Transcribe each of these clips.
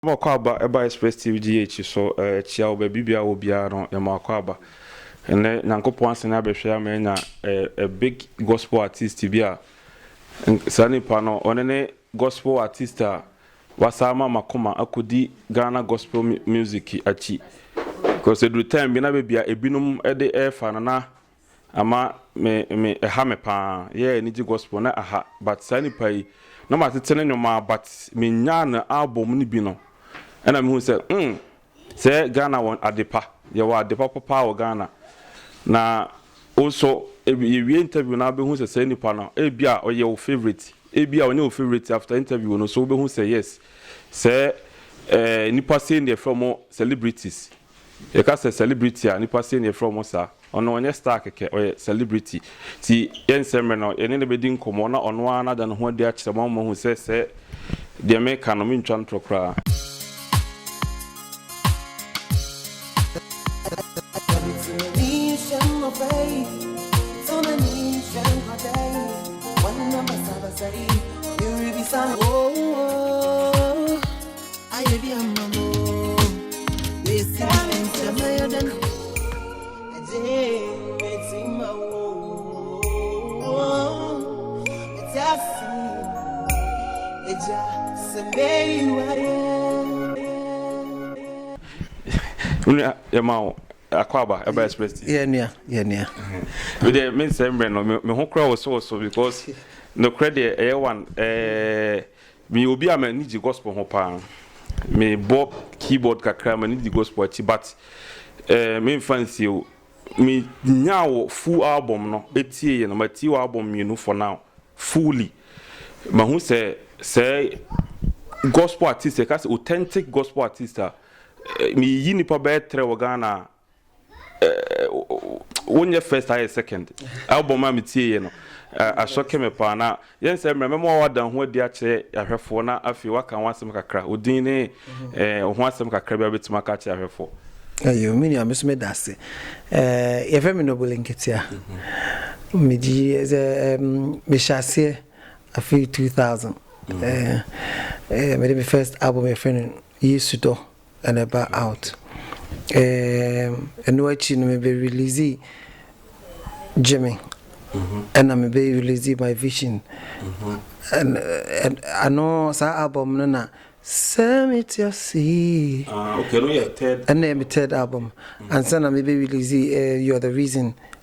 Yɛma akwaaba ɛba Express TV GH so kyia wɔ baabi biara wɔ biara no yɛma akwaaba. Ɛnɛ Nyankopɔn asane abɛhwɛ ama yɛanya a big gospel artist bi a saa nipa no ɔne ne gospel artist a wasa ama makoma akɔdi Ghana gospel music akyi. Because ɛduru time bi na baabi a ebinom de ɛrefa no na Ama me me ɛha me paa. Yeah anigye gospel na aha but saa nipa yi na matete ne nwom aa but me nyaa ne album no bi no ɛna mehu sɛ mm sɛ Ghana wɔ adepa yɛwɔ adepa papa wɔ Ghana na wo nso yɛwie interview no aa bɛhu sɛ saa nipa no ebia ɔyɛ wo favourite ebia ɔnyɛ wo favourite after interview no so wobɛhu sɛ yes sɛ eh nipa sei na yɛfrɛ ɔmo celebrities Yɛka sɛ celebrity a nipa sei na yɛfrɛ wɔn saa. Ɔno ɔnyɛ star kɛkɛ, ɔyɛ celebrity. Nti yɛnsɛ mmerɛ na yɛne no bɛdi nkɔmmɔ na ɔno ara no ada ne ho adi akyerɛ mo ama moahu sɛ sɛ deɛ meka no mentwa ntorɔ koraa. akwaba ɛba express ti. yɛ nua yɛ nua. mi de mi nsɛm brɛ no mi ho kura wosowoso because nokura deɛ ɛyɛ wan ɛɛ. Meyɛ obi a m'ani gye gospel ho paa. Me bɔ keyboard kakra, m'ani gye gospel akyi but eh me nfa nsie o. Me nyaa wɔ full album no etie yɛ no, ma tie wɔ album mmienu for now fully. Ma hu sɛ sɛ gospel artist yɛ ka sɛ authentic gospel artist a, me yi nipa bɛyɛ trɛ wɔ Ghana a wonyɛ first ayɛ second album a metieeɛ no asɔke me paa na yɛn sɛ mmerɛ mɛma wada ho adi akyerɛ ahwɛfoɔ na afei waka ho asɛm kakra odin ne mhm. ho asɛm kakra bi a wobɛtumi aka akyerɛ ahwɛfoɔ ayo me nua me so meda ase yɛfrɛ me nobele nketea mhm. megye sɛ mehyɛ aseɛ afei 2000 mede me first album yɛfrɛ no yesu dɔ And ɛba out eeemm ɛno akyi no me bɛ release Jimmy ɛna me bɛ release my vision and ano saa album no na sɛ me ti ase ɛna yɛ me third album ansa na me bɛ release eh, you're the reason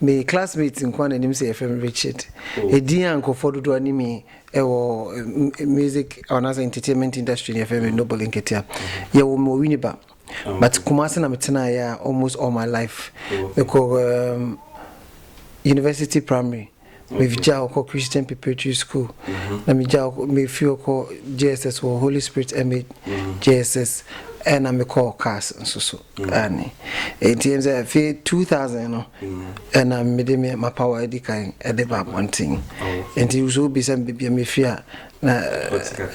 Me classmate nkoa na nim sɛ yɛfrɛ me Richard. Edin a nkurɔfoɔ dodoɔ ara nim me wɔ music anaasɛ entertainment industry no yɛfrɛ me Noble Nketia. Yɛwoo me wɔ Winneba but Kumasi na metenaeɛ almost all my life. Mekɔ um, University Primary megyaa hɔ kɔ Christian Preparatory School na megyaa hɔ mefiri hɔ kɔ JSS wɔ Holy Spirit MA JSS ɛna mekɔ CAS nso so. Aane. Enti ɛne sɛ afei 2000 no ɛna mede me m'apawa adi kan de ba abɔnten. Enti sɛ wobisa me baabi a mefiri a na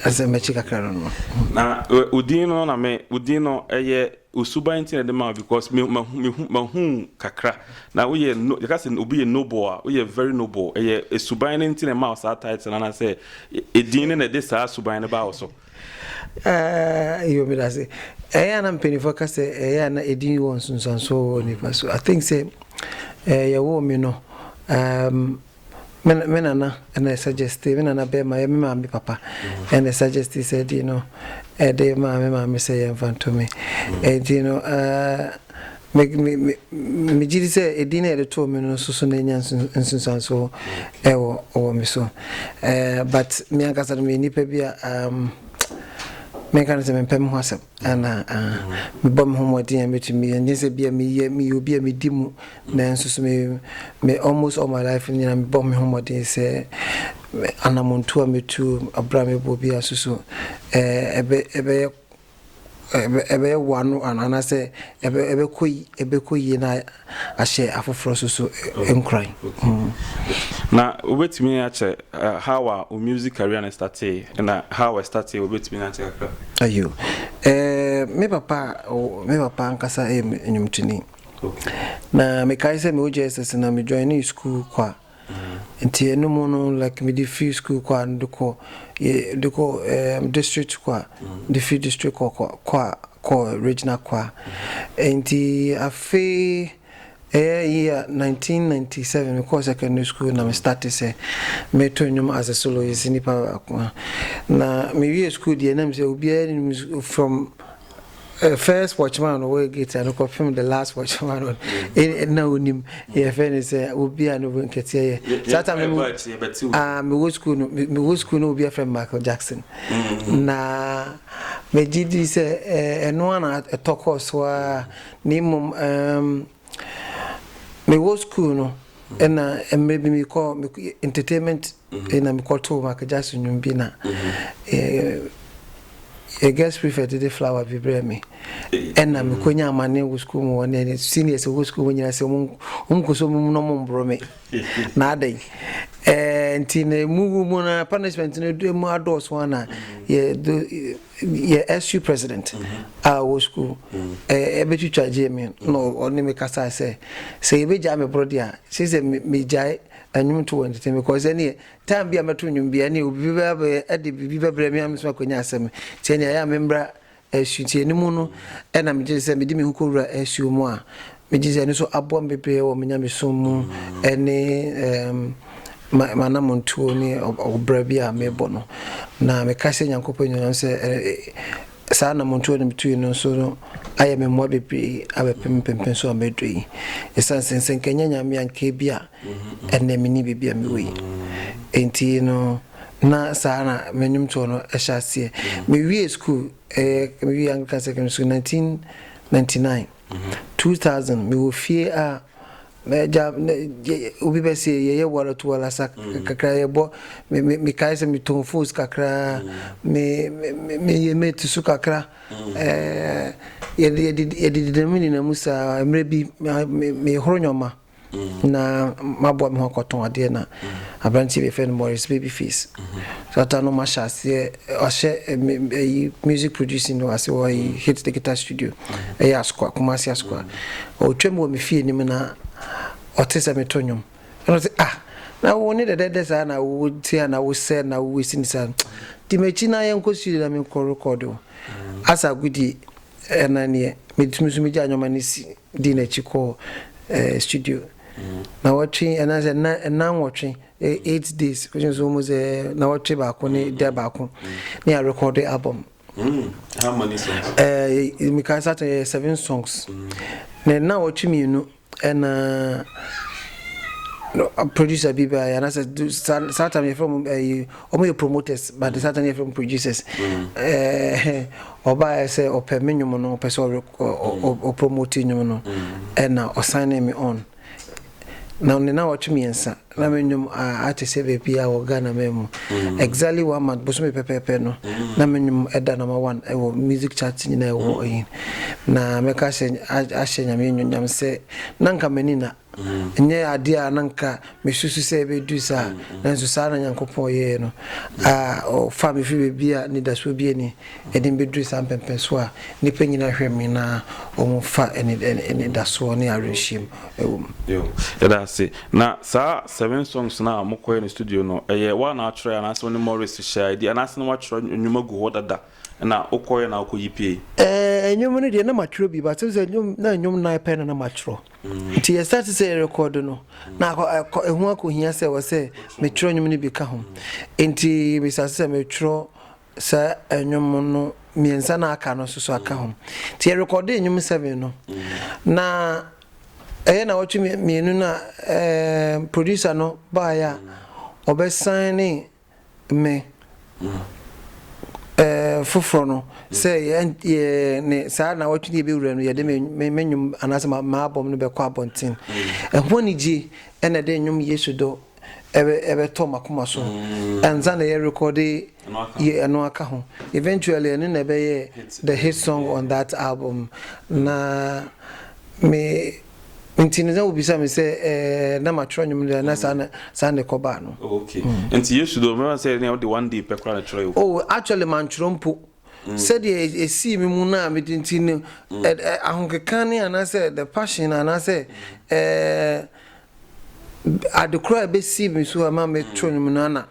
ɛsɛ makyi kakra no no. Na wo din no na me wo din no ɛyɛ osuban nti na ɛde ma wo because me mahu mehu mahu wo kakra na woyɛ no yɛka sɛ obi yɛ noble a woyɛ very noble ɛyɛ suban no nti na ɛma wo saa title no anaasɛ edin no na ɛde saa suban no baa wo so. Aah yoo meda ase. Ɛyɛ a na mpaninfoɔ ka sɛ ɛyɛ a na edin wɔ nsunsuansoɔ wɔ nipa so. I think sɛ ɛɛ yɛwoo me no ɛɛm me me nana ɛna suggestee, me nana bɛɛma ɛyɛ me maame papa ɛna ɛsuggestee saa edin no ɛde maa me maame sɛ yɛnfa nto me. Ɛnti no ɛɛ Me, me, me, megye di sɛ edin a yɛde too me no nso so na anya nsunsuanso wɔ wɔ me so. Eh, but me ankasa no meyɛ nipa bi a um, menka no sɛ mempɛ me ho asɛm ana uh, mebɔ me ho mmɔden a metumi yɛ nyɛ sɛ bia meyɛ meyɛ obi a medi mu nanso so me, me almost all my life nyina mebɔ me ho mmɔden sɛ anamontu a metu abra mebɔ bi a so so eh, ɛbɛyɛ ɛbɛwoa no anaasɛ ɛbɛkɔ yie na ahyɛ afoforɔ nso so nkuran. Na wobɛtumi akyɛ how a wo music career no startee na how ɛstartee wobɛtumi akyɛ kakra? Ayo, me papa me papa ankasa yɛ nnwomtoni. Na mekae sɛ mewɔ JSS no na me joinee sukuu kwa. Nti ɛno mu no like mede firi school kɔ a no de kɔ de kɔ ɛɛm district kɔ a de firi district kɔ kɔ kɔ a kɔ regional kɔ a nti afei ɛyɛ year nineteen ninety seven me kɔɔ secondary school na me starte sɛ me to nnwom as a soloist nipa baako na me wie school deɛ na me sɛ obiara nim from Eh, first watchman ɔwɔ gate ano kɔpem the last watchman ɔno eh, na onim yɛfɛ ne sɛ obi a no bo nkɛteɛ yɛ saa tam no ah, mewɔ school no mewɔ school no obi afrɛ michael jackson mm-hmm. na megye di sɛ eh, ɛno a na ɛtɔ kɔɔ so a na mmom ehm, mewɔ school no ɛna mmerɛ bi mekɔ entertainment Afei na mekɔtoo Michael Jackson nnwom bi na yɛ guest prefect de flower bi brɛ me ɛna mekonya amane wɔ sukuu mu wɔne ne seniors wɔ sukuu mu nyina sɛ ɔmkɔ so mum na ɔmmboro me na adɛn eh, nti na mu wu mu na punishment no do mu adɔɔso ana yɛ SU president a wɔ sukuu ɛbɛtwitwa gyee me na ɔne me kasa sɛ sɛ yɛbɛgyaa me borɔ deɛ a sɛ sɛ megyae Nnwom to wɔ ntete me kɔ sɛ neɛ time bi a mɛto nnwom bia neɛ obi bɛba abɛyɛ de biribi bɛbrɛ me a mesoma akɔnya asɛm sɛ neɛ ɛyɛ a memmra asutie no mu no ɛna megye sɛ mede me ho kɔwura asuo mu a megye sɛ ɛno nso aboa me bebree wɔ me nyamesom mu ɛne manamontuo ne ɔbra bi a mebɔ no na meka sɛ nyankopɔn nyinam sɛ Saa anammɔntuo a na metuui no nso no ayɛ me mmoa bebree abɛpem mpempem so a maduru yi. Ɛsiane sɛ sɛ nka ɛnyɛ Nyame a nka ebi a ɛnnɛ menni baabi a mewɔ yi. Enti no na saa na me nnwomtoɔ no hyɛ aseɛ. Mewiee sukuu, ɛyɛ mewiee Anglican Secondary School 1999. Two thousand me wɔ fie a na gya na gye obi bɛ se yɛ yɛ wara to wara sa mm. kakra yɛ bɔ me me me kae sɛ me tɔn fos kakra mm. me me me yɛ mate so kakra mm. ɛɛ eh, yɛ yɛ de yɛ de dinamu ninamu saa mmerɛ bi me me horo nyɔma. na maboa me ho akɔtɔn adeɛ na aberanteɛ bi a yɛfrɛ no Morris Babyface Shatta no mahyɛ aseɛ ahyɛ ɛyi music producing no ase wɔ ɛyi Hit the Guitar Studio ɛyɛ Asokoa Kumasi Asokoa ɔtwam wɔ me fie anim na ɔte sɛ meto nnwom ɛna ɔte ah na wo ne dɛdɛdɛ saa na wo te a na wo sɛ na wo si ne saa di m'akyi na yɛnkɔ studio na menkɔ rekɔdo asa agudie ɛna neɛ metumi so megya nnwoma no si dii n'akyi kɔɔ ɛɛ studio na wɔtwe anaasɛ na nna nwɔtwe eight days wɔn nso wɔn sɛ na wɔtwe baako ne da baako ne yɛ rekɔde album. Mm. How many songs? Ɛɛ eh, mika satan yɛ seven songs na nna wɔtwe mmienu ɛna. producer bi ba yɛ anasɛ saa time yɛfrɛ mu ɛyi wɔn yɛ promoters but saa time yɛfrɛ mu producers ɛɛ Ɔbaeɛ sɛ ɔpɛ me nnwom no, ɔpɛ sɛ ɔ promote nnwom no ɛna ɔ signee me on. Na ne nnawɔtwe mmiɛnsa na me nnwom a ate sɛ baabiara wɔ Ghana man mu. Exactly one month, bosome pɛpɛɛpɛ no na me nnwom ɛda number one ɛwɔ music chart nyinaa ɛwɔ ɛyi. Na mɛka sɛ ahyɛ Nyame anuonyam sɛ na nka m'ani nna. Ɛnyɛ adeɛ a na nka mesusu sɛ ɛbɛdu saa, nanso saa na Nyankopɔn yɛeɛ no. A Ɔfaa me firi baabi a anidasoɔ biara nni, ɛde me bɛduruu saa mpɛmpɛnsoɔ a nnipa nyinaa hwɛ me na wɔfa anidasoɔ ne awerɛhyem wɔ mu. Yo, yɛda ase. Na saa seven songs no a mokɔeɛ no studio no, ɛyɛ wo a na atwerɛeɛ anaasɛ wo ne Morris hyɛɛ adi, anaasɛ na woatwerɛ nnwom agu hɔ dada na wokɔeɛ na wokɔyi pieeɛ? Ɛɛ, nnwom no deɛ na matwerɛ bi, but wohu sɛ nnwom, na nnwom nnan pɛ na na matwerɛ. Nti yɛ starte sɛ yɛrekɔɔdo no na akɔ ɛho akɔhia sɛ wɔ sɛ metwerɛ nnwom no bi ka ho nti mesase sɛ metwerɛ saa nnwom no mmiɛnsa no aka no soso aka ho nti yɛrekɔɔde nnwom seven no na ɛyɛ na wɔtwe mmienu no a producer no baeɛ a ɔbɛsan ne me eh, foforɔ no sɛ yɛ yɛ ne saa nawɔtwe no yɛbɛwura no yɛde me me nnwom anaasɛ ma m'abɔm no bɛkɔ abɔnten ɛho anigye ɛna ɛde nnwom yesu dɔ ɛbɛ ɛbɛtɔ makoma so ansa na yɛrekɔde yɛ ɛno aka ho eventually ɛno na ɛbɛyɛ the hit song on that album na me Nti no sɛ wobisa me sɛ ɛɛ na matwerɛ nnwom no na saa na saa na ɛkɔbaa no. Oh, okay. Mm. Nti Yesu do mɛma sɛ ne wode one day pɛ koraa na twerɛ yo. Oh, actually mantwerɛ mpo. Mm. Sɛdeɛ ɛsii me mu no a mede nti no mm. eh, eh, ahokeka ne anaasɛ the passion anaasɛ mm. eh, adekora a ɛbɛsii me so a ma metwerɛ nnwom no ana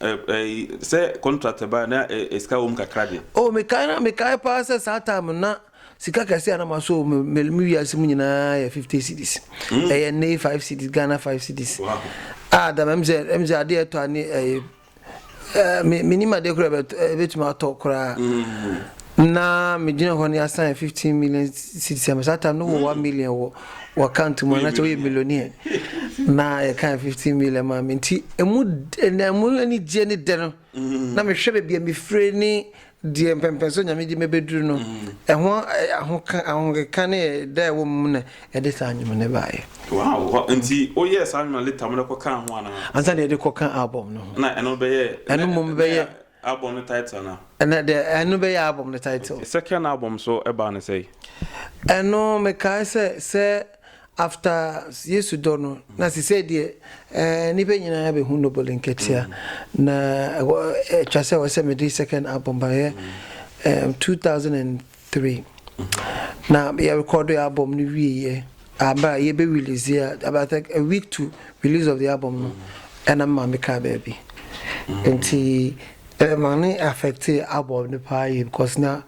Sɛ contract ba a na sika wɔ mu kakra deɛ. Oh mekae na mekae paa sɛ saa time no na sika kɛse a na ma so me wiase mu nyinaa yɛ fifty cedis ɛyɛ nnɛ yi five cedis Ghana five cedis a da mɛm sɛ ɛm sɛ adeɛ ɛtɔ ani ɛyɛ me menim adeɛ kora ɛbɛtumi atɔ koraa na megyina hɔ no yɛasan yɛ fifteen million cedis ama saa time no wɔ one million wɔ Wɔka ntom anaasɛ woyɛ millionaire na yɛka fifteen million maa me nti emu na emu anigyeɛ ne dɛ no na mehwɛ baabi a mefire ne deɛ mpɛmpɛn so nyame de mɛbɛduru no ɛho ahoka ahokeka ne ɛda ɛwɔ mu na ɛde saa nnwom no baeɛ. Wow, nti woyɛɛ saa nnwom no later mode kɔkaa ho anaa? Ansa na yɛde kɔka album no ho. Na ɛno bɛyɛ ɛno mmom bɛyɛ Album no title no. Ɛnɛ deɛ ɛno bɛyɛ album no title. Second album nso baa no sɛn? Ɛno mekae sɛ sɛ after Yesu dɔ no na sesei deɛ eh, nnipa nyinaa bɛhu Noble Nketia na ɛwɔ ɛtwa sɛ ɛwɔ sɛ mede second album baeɛ eh, 2000 and Three. Na yɛ rekɔɔdo yɛ album no wie yɛ a bere a yɛ bɛ release yɛ about I think a week to release of the album no ɛna me maame kaa baabi nti ɛma ne affecte album no paa yie because na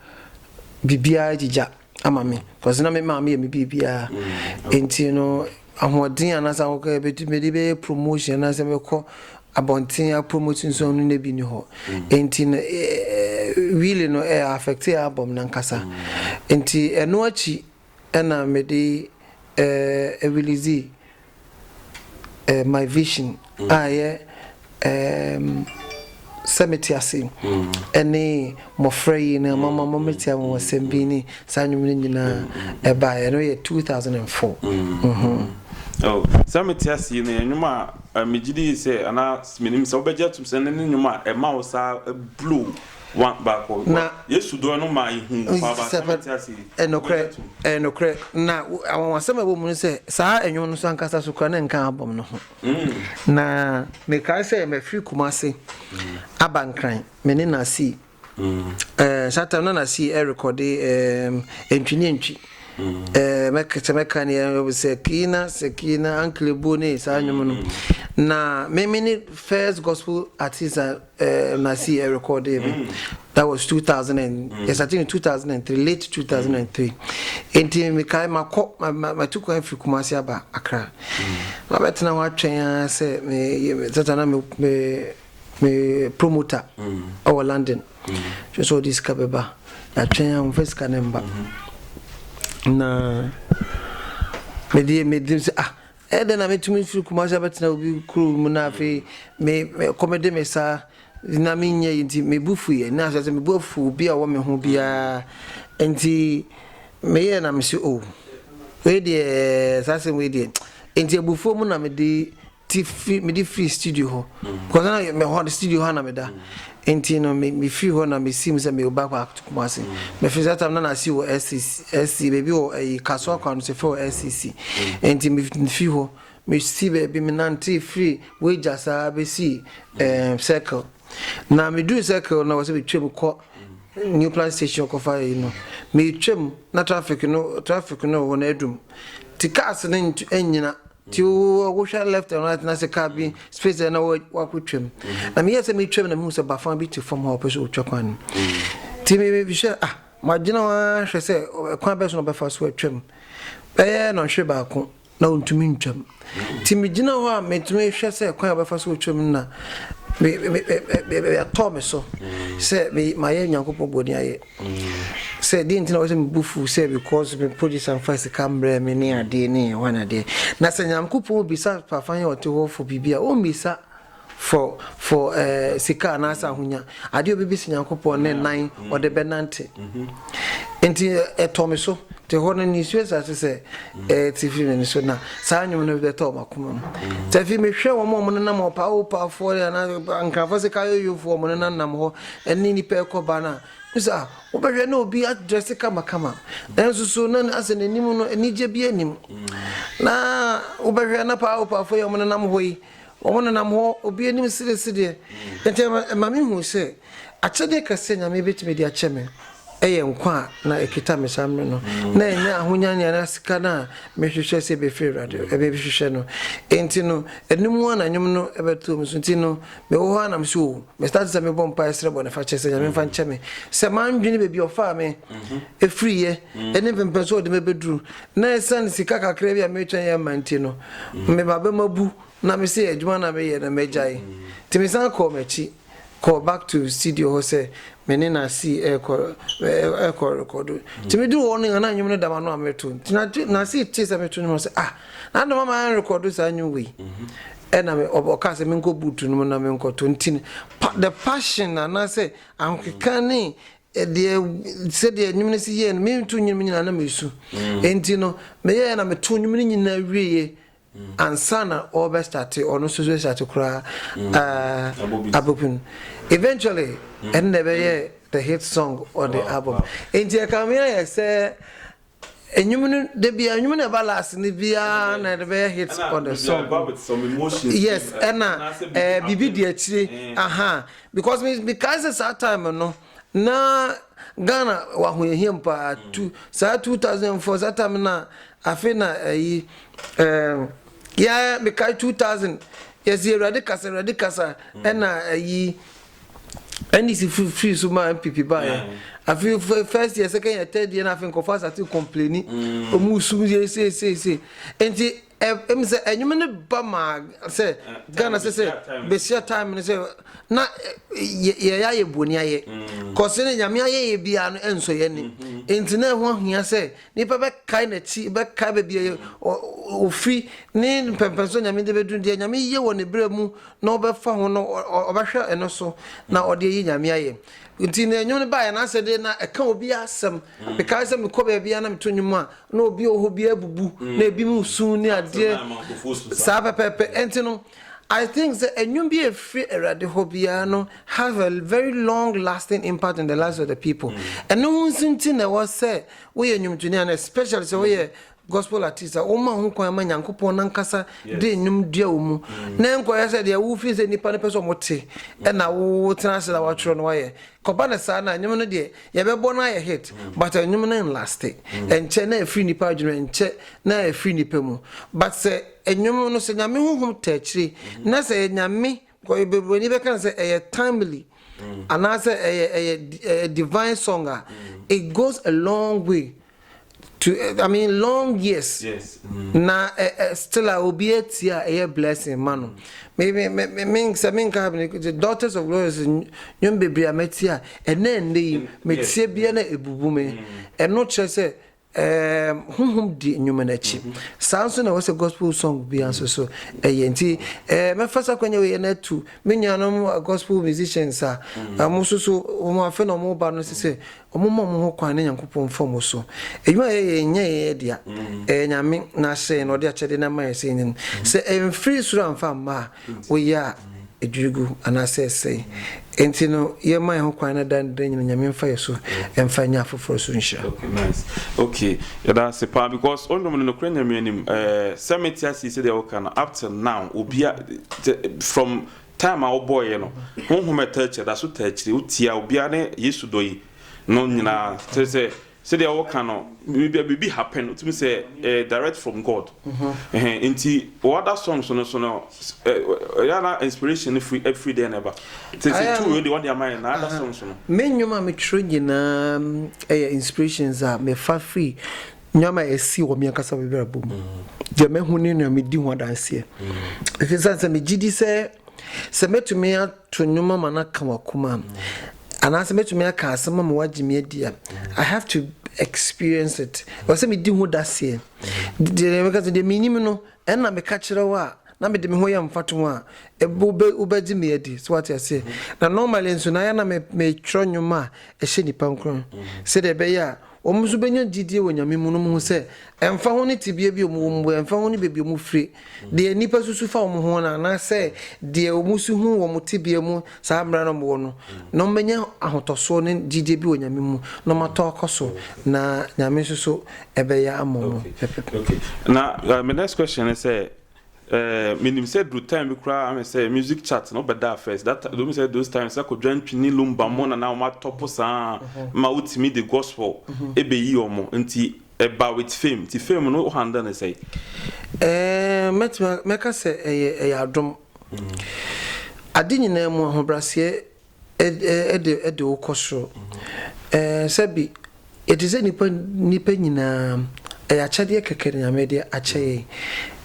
biribiara gyigya ama me because na me maame yɛ me biribiara nti no Ahoɔden a na sɛ akokɔ yɛ bɛtu mede bɛyɛ promotion na sɛ mekɔ abɔnten a promote nso no na bi ni hɔ nti no really no ɛ affect ɛ album no ankasa nti ɛno akyi ɛna mede ɛ release ɛ my vision a ɛyɛ sɛ mete ase ɛne mmɔfra yi no mama mo metia wɔn asɛm bi ne saa nnwom no nyinaa ɛbaeɛ no yɛ 2004 sɛ mete ase yi no yɛ nnwom a megye di sɛ anaa menim sɛ wobɛgye atom sɛ ne ne nnwom a ɛma wo saa blow baako na yesu dɔ no ma ɛhu paaba sɛ mete ase yi ɛnokorɛ ɛnokorɛ na awɔwasɛm a ɛwɔ mu no sɛ saa nnwom no so ankasa so kora ne nka abɔm no ho Na mekae sɛ mafiri Kumasi aba Nkran, me ne Nasir. Eh, saa time na Nasir ɛrekɔde eh, ntwi ne ntwi. Eh, mɛka sɛ mɛka ne eh, Sakina, Sakina, Anklebu ne saa nnwom no. Na me me ne first gospel artist a eh, masi eh, recorded eh, mm. that was 2000 and mm. yes i think 2003 late 2003 mm. nti mekae makɔ matu kwan firi kumase aba akra mm. mabɛtena hɔ atwɛn a sɛ sɛta na me me promoter mm. ɔwɔ london hwɛ sɛ ɔde sika bɛba atwɛn a mfa sika ne mba mm-hmm. na mede mede sɛ ah Ɛyɛ dɛn na metumi firi Kumasi abɛtena obi kurow mu na afei me kɔmede me sa na menyɛ yi nti me bo fuiɛ na sɛ sɛ me bo afu obi a ɔwɔ me ho biara nti meyɛ na mese o wei deɛ saa asɛm wei deɛ nti abufuo mu na mede ti firi mede firi studio hɔ because na me hɔ studio hɔ na meda Enti no, me, mefiri hɔ na mesiim sɛ mewɔ back pack to Kumasi. Mefiri saa tam no na asi wɔ SCC, SCC, baabi wɔ ayi, Kasoa kwan no so, yɛfrɛ hɔ SCC. Enti mefiri hɔ, mesi baabi, menantee firi Wagya saa bɛsii ɛɛm, Circle. Na meduru Circle no, wɔ sɛ metwam kɔ New Plant Station kɔfa ayi no. Metwam, na traffic no, traffic no wɔ hɔ no adum. Nti cars no ntu, nnyina. Nti wohwɛ left and right na sɛ car bi space a na wakɔtwa mu. Na meyɛɛ sɛ metwa mu na mehu sɛ bafã bi te fam hɔ a ɔpɛ sɛ ɔtwa kwan no mu. Nti mehwɛ ah magyina hɔ ara hwɛ sɛ kwan bɛso na ɔbɛfa so atwa mu. Bɛyɛ nɔnhwere baako na ɔntumi ntwa mu. Nti megyina hɔ a metumi hwɛ sɛ kwan a ɔbɛfa so atwa mu na atɔɔ me so sɛ mayɛ Nyankopɔn bɔne ayɛ. sɛ deɛ nti na wɔsɛ me bu fuw sɛ because me producer mfa sika mbrɛ me ne adeɛ ne ɛhɔ na adeɛ na sɛ nyankopɔn bisa papa yɛ ɔte hɔ for biribi a ɔmmisa for for ɛɛ eh, sika anaasɛ ahonya adeɛ obibisa nyankopɔn ne nan ɔde bɛnante nti ɛtɔ me so te hɔ no ne nsuo asase sɛ ɛte firi m'ani so na saa nnwom no bɛtɔ wɔn akoma mu sɛ afei mehwɛ wɔn a wɔn nenam hɔ paawo paafoɔ anaa nkrafoɔ sɛ kayoyofoɔ wɔn nenam hɔ ɛne nipa rekɔba no a, wohu sɛ ah, wobɛhwɛ na obi adrɛse kamakama, nanso so na asɛ n'anim no anigye bi anim. Na wobɛhwɛ na paa opaafo yi a wɔnenam hɔ yi, wɔnenam hɔ obi anim seresereɛ. Nti ɛma mehu sɛ akyɛdeɛ kɛseɛ Nyame bɛtumi de akyɛ me ɛyɛ nkwa a na ɛkita me saa mmerɛ no na ɛnyɛ ahonya ne anaa sika no a mehwehwɛ sɛ ɛbɛfiri Awurade ɛbɛhwehwɛ no. Nti no ɛno mu a na nnwom no ɛbɛtoo me so. Nti no Mewɔ hɔ ara na meso o. Me start sɛ mebɔ mpaeɛ srɛ bɔnefakyɛ sɛ Nyame mfa nkyɛ me sɛ mandwene baabi a ɔfaa me ɛfiriiɛ ɛne mpempɛ so ɔde me abɛduru na ɛsiane sika kakra bi a meretwɛn yɛ mma nti no me ba bɛma bu na me se adwuma na meyɛ no mɛgyae nti me san kɔɔ m'akyi kɔɔ back to studio hɔ sɛ me ne na si ɛkɔ ɛkɔ rekɔdo nti me duru hɔ no na nnwom no da ma no a mereto nti na si te sɛ meto nnwom sɛ ah Na dɛm ama yɛnrekɔdo saa nnwom wei. Ɛna me ɔb ɔkaa sɛ menkɔ boot no mu na menkɔtɔ nti no pa the passion anaasɛ ahokeka ne ɛdeɛ sɛdeɛ nnwom no si yɛɛ no meto nnwom no nyinaa na mesu. Enti no meyɛɛ na metoo nnwom no nyinaa wieeɛ ansa na ɔrebɛ starte ɔno nso so starte koraa abɔbi no. Eventually ɛno na ɛbɛyɛɛ the hit song on the album. Enti ɛkame ayɛ sɛ Nnwom no da biara nnwom na ɛba last no biara na ɛde bɛyɛ hit on the song yes ɛna ɛɛ biribi di akyire aha because me me kae sɛ saa time no na Ghana wɔ ahoyɛhia mu paa mm. tu saa two thousand four saa time na afe na ɛyi ɛɛ yɛ me kae two thousand yɛsi awurade kasa awurade kasa mm. ɛna ɛyi. NDC firi firi so ma NPP ba yɛ afei fɛ first year second year third year na afei nkɔfo asate complaini ɔmu sum yɛ se se se nti ɛm sɛ ɛnwom no ba ma sɛ Ghana sɛ sɛ bɛhyia time no sɛ na yɛyɛ ayɛ bɔni ayɛ kɔse no nyame ayɛ yɛ biara no ɛnsɔ yɛ ne nti na ɛho ahia sɛ Nnipa bɛkae n'akyi, bɛkae baabi a ɔfiri, ne mpɛnpɛnsoɔ Nyame de bɛduru, deɛ Nyame yɛ wɔ ne berɛ mu na ɔbɛfa ho no, ɔbɛhwɛ ɛno so na ɔde ayi Nyame ayɛ. Nti na nnwom no baeɛ no asɛ deɛ na ɛka obi asɛm. Mm. Mekae sɛ mekɔ baabiara na meto nnwom a, na obi wɔ hɔ bi abubu, mm. na ebi mu su ne adeɛ saa pɛpɛɛpɛ. Ɛnti no, I think sɛ ɛnwom bi ɛfiri awurade hɔ biara no have a very long lasting impact in the lives of the people mm. ɛno ho nso nti na ɛwɔ sɛ woyɛ nnwomtoni ana especially sɛ woyɛ gospel artist a woma ho kwan ma nyankopɔn nankasa de nnwom dua wo mu mm. na nkɔyɛ sɛ deɛ wofii sɛ nnipa no pɛ sɛ ɔmote mm. ɛna wotena ase na woatwerɛ no wayɛ kɔba no saa no a nnwom no deɛ yɛbɛbɔ no ayɛ hit mm. but nnwom no nlaste ɛnkyɛ na ɛfiri nnipa adwene ɛnkyɛ na ɛfiri nnipa mu but sɛ nnwom no sɛ nyame honhom taakyire na sɛ nyame Kɔyɛ bebrani bɛka no sɛ ɛyɛ timely anaasɛ ɛyɛ ɛyɛ ɛyɛ divine song a it goes a long way to I mean long years na ɛ ɛ still a obi atie a ɛyɛ blessing ma no me me me me sɛ me nka me the daughters of glorious nnwom bebree a matie a ɛnɛ ɛnɛ yi metie bia na ebubu me ɛno kyerɛ sɛ Ɛɛm, honhom di nnwuma no akyi. Saa nso na ɛwɔ sɛ gospel song biara nso so ɛyɛ. Nti ɛɛ mɛfa saa kwanya wei yɛ no atu me nuanom gospel musicians a wɔn nso so wɔn afei na wɔreba no sɛ sɛ wɔmma wɔn ho kwan na Nyankopɔn mfa wɔn so. Adwuma a yɛyɛ nyɛ yɛn dea, ɛyɛ Nyame na ahyɛn na ɔde akyɛde no ama yɛn sɛ yɛnyɛ no. Sɛ ɛmfiri soro amfa amma a, woyɛ a, edwiri gu anaasɛ ɛsɛe. Enti no, yɛmma yɛn hokwan no daa ne da nyinaa Nyame mfa yɛn so mfa nyɛ afoforo so nhyira. Okay nice okay yɛda ase paa because wo nnwom no nokorɛ Nyame anim eh sɛ me te aseɛ sɛdeɛ wo ka no up till now obia te from time a wo bɔɔyɛ no honhom a ɛtaa akyire ɛda so taa akyire wo tie a obia ne Yesu dɔ yi no nyinaa kyerɛ sɛ Sɛdeɛ woka no bia biribi happen wotumi sɛ ɛyɛ direct from God ɛhɛn nti wo other songs no nso no ɛyɛ a na inspiration no firi ɛfiri dɛn na ɛba te sɛ tu wei deɛ wɔde ama yɛn na other songs no. Me nnwom a metwerɛ nyinaa ɛyɛ inspirations a mefa firi nnoɔma a ɛsi wɔ me ankasa m'abrabɔ mu deɛ mahu ne nea medi ho adanseɛ ɛfiri sane sɛ megyedi sɛ sɛ mɛtumi a. To nnwom ama no aka w'akoma a. Anaasɛ mɛtumi aka asɛm ama woagye me adi a. I have to experience it. Ɛwɔ sɛ medi ho daseɛ. Deɛ meka sɛ deɛ menim no, ɛna meka kyerɛ wo a, na mede me ho yɛ mfatoho a, wobɛ wobɛgye me adi. So wate aseɛ? Na normally nso na ayɛ na me metwerɛ nnwom a ɛhyɛ nnipa nkuran sɛdeɛ ɛbɛyɛ a. Wɔn nso bɛnya gyidie wɔ Nyame mu, nom ho sɛ, ɛmfa ho ne tebea bi a wɔn wɔ mu, ɛmfa ho ne baabi a wɔn fire, deɛ nnipa susu fa wɔn ho no, anaasɛ deɛ wɔn su hu wɔ wɔn tebea mu saa mmerɛ na wɔn wɔ no, na wɔn bɛnya ahotɔsoɔ ne gyidie bi wɔ Nyame mu, na wɔn atɔ akɔ so, na Nyame nso so ɛbɛyɛ ama wɔn pɛpɛpɛ. Okay, na my next question ne sɛ, Minim sɛ duru time bi koraa ahwɛ sɛ music chart no bɛdaa first that time domi sɛ those times sɛ Kwadwo Antwi ne Lumba mo na na wɔn atɔpo saa ma wotumi de gospel ebeyi wɔn nti ɛba with fame nti fame no handle ne sɛ. Ɛɛ mɛtumi mɛka sɛ ɛyɛ ɛyɛ adom. Ade nyinaa mu ahobraseɛ de de wo kɔ soro. Sɛbi yɛte sɛ nnipa nnipa nyinaa, ɛyɛ akyɛdeɛ kɛkɛ na Nyame de akyɛ yɛn.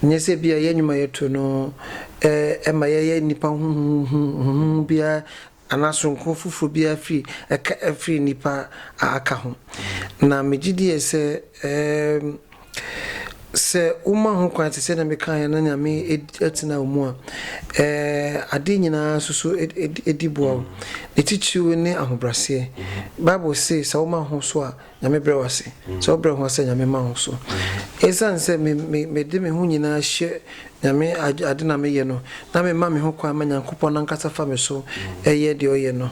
Nyɛ sɛ bi a yɛ nnwuma yɛto no ɛma yɛyɛ nnipa huhuhuhu biara anaa soronko foforɔ biara firi ɛka firi nnipa a aka ho. Na megye die sɛ ɛɛm. Sɛ woma ho kwan te sɛ nea mekaeɛ na Nyame atena wo mu a, adeɛ nyinaa nso so di boa wo. Ne titiriw ne ahobraseɛ. Bible se sɛ woma ho so a, Nyame brɛ wo ase. Sɛ wobrɛ ho ase a, Nyame ma wo so. Esiane sɛ mede me ho nyinaa hyɛ Nyame agye ade na meyɛ no, na memma me ho kwan ma Nyankopɔn nankasa fa me so yɛ deɛ ɔyɛ no.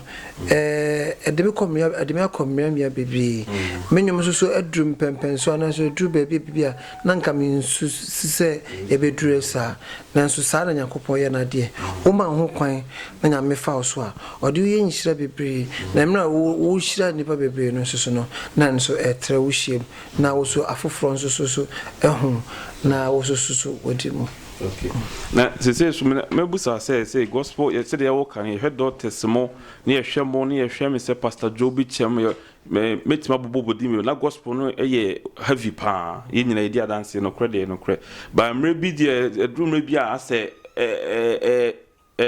Ɛde me kɔ mmea, ɛde me akɔ mmea mmea bebree. Me nnwom nso so aduru mpɛmpɛn so anaasɛ aduru baabi a baabi a na nka mensusu sɛ ɛbɛduru saa. Nanso saa na Nyankopɔn yɛ n'adeɛ. Woma wo ho kwan na Nyame fa wo so a, ɔde wo yɛ nhyira bebree. Na mmerɛ a wo wohyira nnipa bebree no nso so no, na ɛno nso ɛtrɛ wo hyia mu. Na wɔsu afoforɔ nso so so ho, na wɔsususu wɔde mu. Ok na sesei nso me na mɛbusa sɛ sɛ gospel yɛ sɛdeɛ yɛwɔ ka no yɛhwɛ doctors mo ne yɛhwɛ mo ne yɛhwɛ me sɛ pastor Joe bi kyɛm yɛ mɛ mɛtumi abobɔ bɔdi mi na gospel no yɛ heavy paa yɛn nyina yɛdi adanseɛ nokorɛ deɛ nokorɛ ba mmerɛ bi deɛ ɛduru mmerɛ bi a asɛ ɛɛ ɛɛ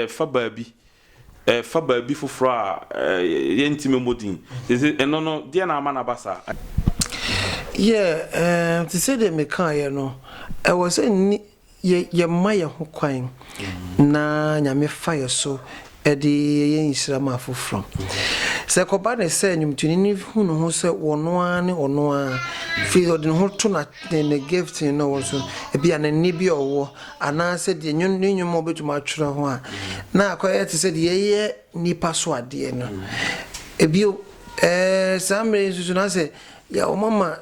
Fa baabi, fa baabi foforɔ a yɛnte mɛmmɔ din. Enti ɛno no, deɛn na ama no aba saa? Yɛ, te sɛdeɛ mekaeɛ no, ɛwɔ sɛ nni, yɛ, yɛma yɛn ho kwan na Nyame fa yɛn so de yɛ nhyira ma afoforɔ. Sɛ ɛkɔba no sɛ nnwomtoni no hu ne ho sɛ ɔno ara ne ɔno ara, firi ɔde ne ho to na, ne, ne gifting no so, ebia ne nne bi a ɔwɔ, anaasɛ deɛ nwon ne nnwom a wɔbɛtumi atwerɛ ho a, na akɔyɛ te sɛ deɛ yɛyɛ nnipa so adeɛ no. Bio, eh, saa mmerɛ yi nso so, na sɛ yɛ wɔama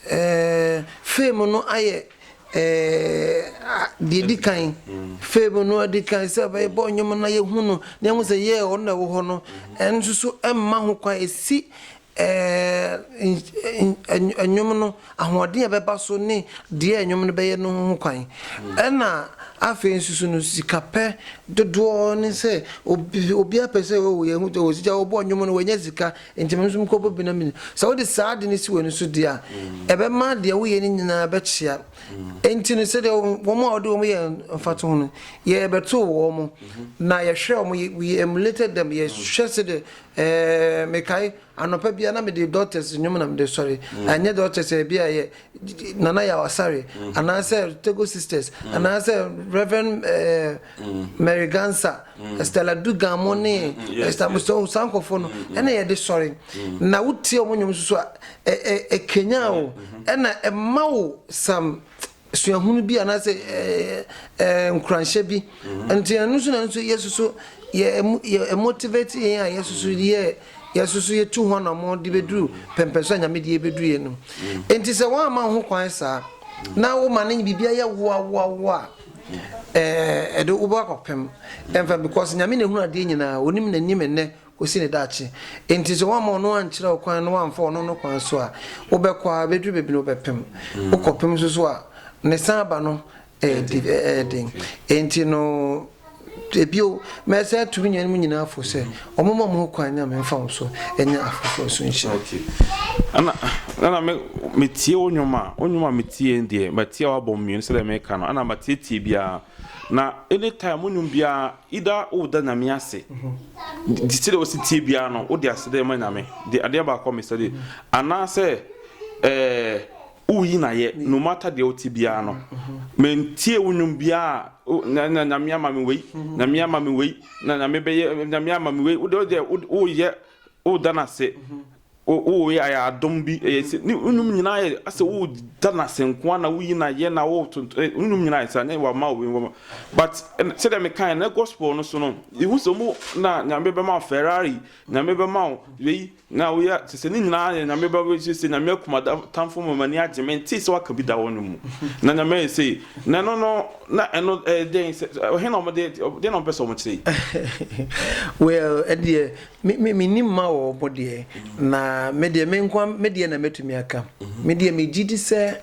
eh, fame no ayɛ eh, deɛ di kan, fame no adi kan sɛ bɛbɔ nnwom no na yɛhu no, na yɛhu sɛ yɛ ɔno na ɛwɔ hɔ no, ɛno nso so ɛmma ho kwan, ɛsi Ɛɛ nnwom no, ahoɔden a ɛbɛba so ne deɛ nnwom no bɛyɛ no ho kwan. Ɛna afei nso no sikapɛ dodoɔ ne sɛ obiara pɛ sɛ oh yɛhu sɛ osigya ɔbɔ nnwom no wanya sika nti me nso mekɔbɔ bi na me sɛ wode saa ade no si w'ani so deɛ a ɛbɛma deɛ woyɛ no nyinaa bɛkyea nti no sɛdeɛ wɔn a wɔde wɔn yɛ mfatoho no yɛbɛtoo wɔn na yɛhwɛ wɔn we emulated them yɛhwɛ sɛdeɛ Ɛɛ mekae anɔpa bia na mede doctors nnwom na mede sɔre mm. ɛnyɛ doctors ɛbi a yɛ nana yɛ awasare mm. anaasɛ tego sisters mm. anaasɛ reverend ɛɛ mary gansa stella dugan mo ne ɛsitamusɔn sankɔfo no ɛna yɛde sɔre na wotie wɔn nnwom soso a ɛɛ ɛkenya o ɛna ɛma wo sam. suahunu bi anaasɛ nkuranhyɛ bi. Nti ɛno nso na nso Yesu so yɛ motivate yɛn a Yesu so yɛ Yesu so yɛtu ho anammɔn de bɛduru pɛmpɛnso a Nyame de yɛbɛduru yɛ no. Nti sɛ woamma ho kwan saa na woma no biribi ayɛ woawoawoa a ɛde wobɛkɔpem ɛmfa because Nyame na ɛhunu adeɛ nyinaa, ɔnim n'anim nnɛ kosi ne daakye. Enti sɛ woamma ɔno ankyerɛ wo kwan na woamfa ɔno no kwan so a, wobɛkɔ ara bɛduru baabi no wobɛpem. Wokɔpem nso so a, ne san ba no ɛyɛ den. Enti no, ebio, mɛsan atu me nuanom nyinaa fo sɛ, wɔmma wɔn ho kwan Nyame mfa wɔn so nyɛ afoforɔ so nhyira. Ɛna metie wo nnwom a, wo nnwom a metie no deɛ, matie a woabɔ mmienu sɛdeɛ mereka no, ɛna matietie biara. Na anytime wo nnwom biara, Ida wo da Nyame ase de sɛdeɛ wosi tie biara no wode aseda ma Nyame de adeɛ baako a mesɛ de anaasɛ ɛɛ woyi na yɛ no matter deɛ wote biara no mentie wo nnwom biara na na nyame ama me wei nyame ama me wei na nyame bɛyɛ nyame ama me wei wode wodeɛ woyɛ woda no ase O o yɛ ayɛ adom bi ɛyɛ sɛ ne nnwom nyinaa yɛ asɛ wo da no ase nkoa na woyi no ayɛ na wo tonto eh, nnwom nyinaa yɛ saa ne wama obi nwoma but ɛn- sɛdeɛ mekae na gospel no so no ihu sɛ ɔmo na nyame bɛma wo ferrari nyame bɛma wo wei na woyɛ sɛ sɛ ne nyinaa yɛ nyame bɛma sɛ sɛ nyame akuma da- tamfo ma m'ani agye mentee sɛ waka bi da wɔ no mu na nyame ayɛ sei na ɛno no na ɛno ɛyɛ dɛn sɛ ɔhe na ɔmo de deɛ na ɔmo pɛ sɛ ɔmo kyerɛ yi well ɛdeɛ Me me mennim ma wɔ ɔbo deɛ na me deɛ me nko me deɛ na mɛtumi aka mm-hmm. me deɛ megye di sɛ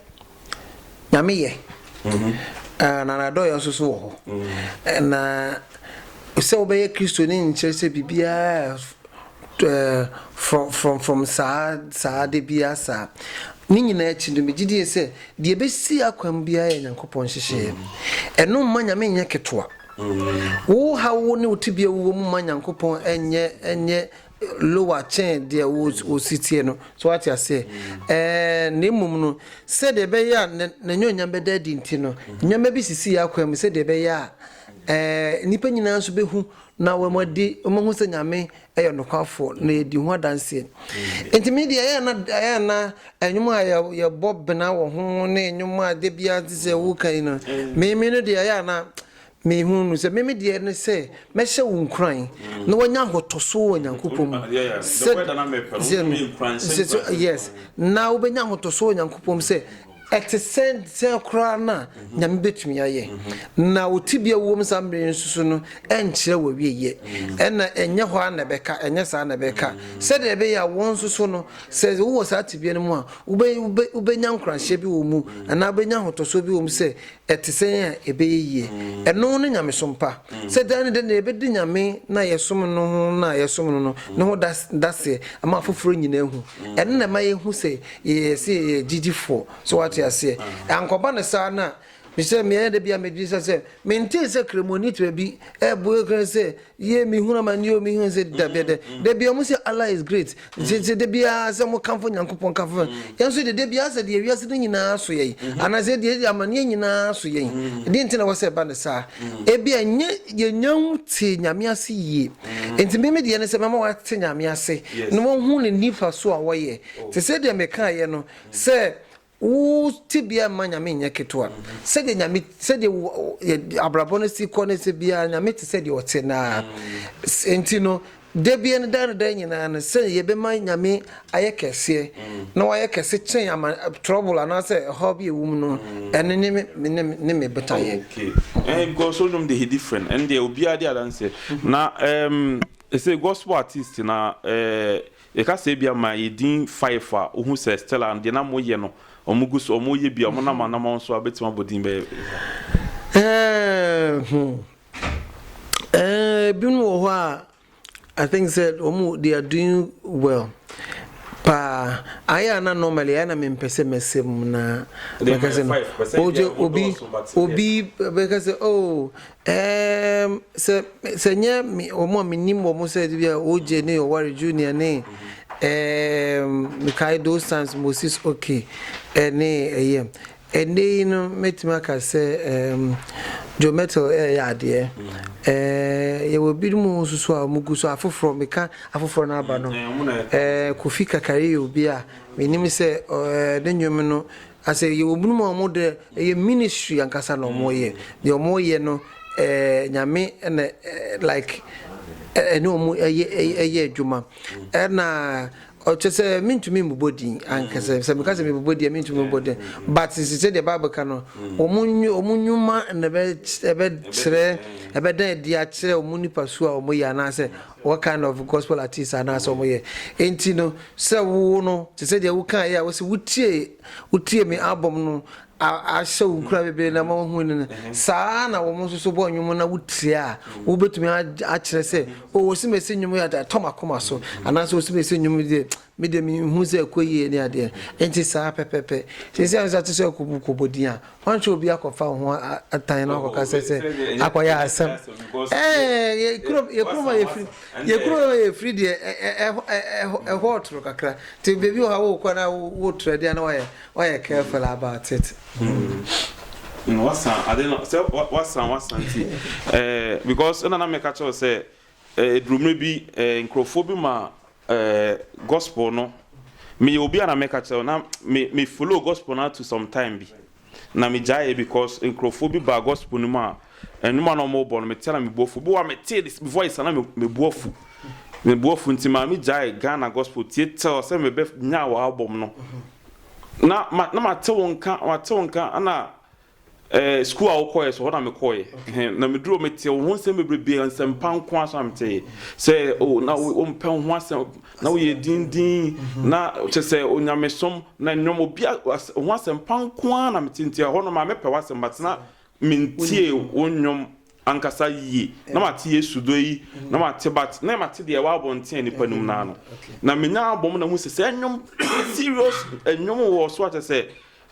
nyame yɛ mm-hmm. ah, na nadɔyɛ nso so wɔ hɔ mm-hmm. eh, na sɛ wobɛyɛ kristo ne nkyerɛ sɛ biribiaa eh, from from from saa saa de biaa saa ne nyinaa akyi no megye die sɛ deɛ ɛbɛsi akwan biara yɛ nyankopɔn nhyehyɛeɛ ɛno mma nyame nyɛ ketewa Wo haw wo ne wo tebea wowɔ mu mma Nyankopɔn nyɛ nyɛ lower kyɛn deɛ wo wo si teɛ no. So wate aseɛ? Ɛɛ, na mmom no, sɛdeɛ ɛbɛyɛ a na n'anuonyam bɛda adi nti no, nneɛma bi sisi yɛn akwan mu sɛdeɛ ɛbɛyɛ a ɛɛ nnipa nyinaa nso bɛhu na wɔadi wɔahu sɛ Nyame yɛ nokwafoɔ na yɛdi ho adanseɛ. Nti me deɛ ɛyɛ na ɛyɛ na ɛnwom a yɛ yɛbɔ bena wɔ ho ne ɛnwom a da biara te sɛ woka yi no me me no deɛ ɛyɛ na me hu no sɛ me me deɛ ne sɛ mɛhyɛ wo nkuran na wanya ahotoso wɔ Nyankopɔn mu sɛ sɛ yes na wobɛnya ahotoso wɔ Nyankopɔn mu sɛ Ɛte sɛn sɛn koraa na Nyame betumi ayɛ? Na wo tebea wom saa mmere yi nso so no nkyerɛ w'awieɛ. Ɛna ɛnyɛ hɔ ara na ɛbɛka, ɛnyɛ saa na ɛbɛka. Sɛdeɛ ɛbɛyɛ a wɔn nso so no, sɛ wowɔ saa tebea no mu a, wobɛ, wobɛ, wobɛnya nkuranhyɛ bi wɔ mu, anaa wobɛnya ahotɔsoɔ bi wɔ mu sɛ Ɛte sɛn a ɛbɛyɛ yie? Ɛno ne nyamesom pa. Sɛ daa ne dɛ na yɛbɛdi Nyame no a yɛsom no ho no a yɛsom no no ne ho daseɛ ama afoforɔ nyina ahu. Ɛno na ɛma yɛhu sɛ yɛyɛ sɛ yɛyɛ gyigyifoɔ. So woate aseɛ? Ankɔba no saa no a, mesɛ meɛ da bi a medwene sɛ sɛ mentee sɛ Kramoni te baabi ɛɛbɔ ɛkran sɛ Yie mehunu amaneɛ o mehunu sɛ dabiada dabiaa ɔmo sɛ Allah is great sɛ sɛ dabiaa sɛ mo kamfo Nyankopɔn kamfo yɛn nso de dabiaa sɛ deɛ wiase no nyinaa so yɛn anaasɛ deɛ amaneɛ nyinaa so yɛn deɛ nti na wɔ sɛ ɛba ne saa ebi a nyɛ yɛnya ho te Nyame ase yie nti me me deɛ ne sɛ mɛma wate Nyame ase na wahu ne nifa so a wɔyɛ te sɛ deɛ mekaeɛ no sɛ Wo tebea mma Nyame nyɛ ketewa. Sɛdeɛ Nyame, sɛdeɛ wo abrabɔ no si kɔ no sɛ biara Nyame te sɛdeɛ ɔte no ara nti no, da biara no daa no daa nyinaa no sɛdeɛ yɛbɛma Nyame ayɛ kɛseɛ na wayɛ kɛse kyɛn ama trouble anaasɛ ɛhaw bi a ɛwɔ mu no, ɛno ne me ne ne me botaeɛ. Okay, eh, because so nnwom de he different, ɛndeɛ obiara de adanseɛ, na ɛɛm, ɛsɛ gospel artist na ɛɛ. Yɛka sɛ ebia ma yɛ din five a, wohu sɛ Stella deɛ na moyɛ no, wɔgu so wɔyɛ bi a, wɔnam anamɔn so a, wobɛtumi abɔ din bɛyɛ fɛ. Ɛɛ hmm. Ɛɛ ebinom wɔ hɔ a, I think sɛ wɔn they are doing well paa. Ayɛ a na normally ayɛ na mempɛ sɛ mɛsɛ mu na Ɛdeɛ ma mɛka yɛ sɛ no. five, pɛ sɛ Ogye ebia obi wɔdɔɔso, but yes. obi bɛka sɛ oh Eeeem sɛ sɛ ɛnyɛ me wɔn a menim wɔn sɛ de bi a OJ ne Oware Junior ne eeeem mekae those times Moses OK ɛne ɛyɛ ɛnnɛ yi no mɛtumi aka sɛ eeeem Joe Mettle ɛɛyɛ adeɛ eeeem yɛwɔ binom nso so a wɔgu so afoforɔ meka afoforɔ no aba no eeeem Kofi Kakari yɛ obi a menim sɛ eeeem ne nnwom no Asɛ yɛwɔ binom a ɔmo dɛ ɛyɛ ministry ankasa na ɔmo yɛ deɛ ɔmo yɛ no ɛɛ nyame na like ɛne ɔmo ɛyɛ adwuma ɛna ɔkyɛsɛ mentumi mbobɔ din ankasa sɛ meka sɛ mebobɔ din a mentumi mbobɔ din but sɛ deɛ bible ka no ɔmo ɔmo nwuma na ɛbɛ ɛbɛ kyerɛ ɛbɛda adi akyerɛ ɔmo nipa su a ɔmo yɛ anaasɛ What kind of gospel artist anaa sɛ ɔmo yɛ enti no sɛ wo no te sɛ deɛ wo kaa yɛ a wose wo tie wo tie me album no a ahyɛ wo nkura bebree na ma wo hu no saa ara na wɔn nso so bɔ nnwom na wo tie a wo betumi akyerɛ sɛ o oh, wose mesi nnwom yɛ atɔ makoma so anaasɛ wose mesi nnwom deɛ Me deɛ menhu sɛ ɛkɔ yie ne adeɛ nti saa pɛpɛpɛ. Seesei nso ate sɛ ɔrekɔbu kɔbɔ din a, wɔnhwɛ obi akɔfa wo ho atan na wakɔka sɛ sɛ akɔyɛ asɛm. Ɛɛɛ yɛ kuro yɛ kuro ma yɛ firi yɛ kuro ma yɛ firi deɛ ɛ ɛ ɛ ɛ ɛ ɛhɔ ɔtoro kakra nti beebi wɔ ha wokɔ na wo wo trɛ deɛ na wɔyɛ wɔyɛ careful about it. Hmm. Wasan ade no sɛ wasan wasan ti ɛɛ because ɛna na mɛka kyɛw sɛ Eduru mmerɛ bi nkorɔfoɔ bi ma gospel no, meyɛ obi a na mɛka kyerɛ wo na me follow gospel no to some time bi na me gyaeɛ because nkorɔfoɔ bi baa gospel no mu a nnwom a na wɔn rebɔ no mete a na me bu afu, bi wɔ hɔ a metee ne voice a na me bu afu, me bu afu nti maa me gyae Ghana gospel tie till sɛ mebɛ nyaa wɔ album no, na na mate wo nka mate wo nka ɛna Ɛɛ sukuu a wokɔeɛ so hɔ na mekɔeɛ ɛhɛn na meduru hɔ meteɛ wo ho nsɛm bebrebe nsɛmpa nko ara so na meteɛ sɛ oh na wo wompɛ wo ho asɛm na woyɛ dindin na kyɛ sɛ onyamesom na nnwom obi a as wo ho asɛmpa nko ara na mete nti ɛhɔ no maa mepɛ w'asɛm but na mentie wo nnwom ankasa yie na mate Yesu dɔ yi na mate but na mate deɛ ɛwɔ abɔnten a nnipa nim no ara no na menya abom na hu sɛ sɛ nnwom serious nnwom wɔ so a kyɛ sɛ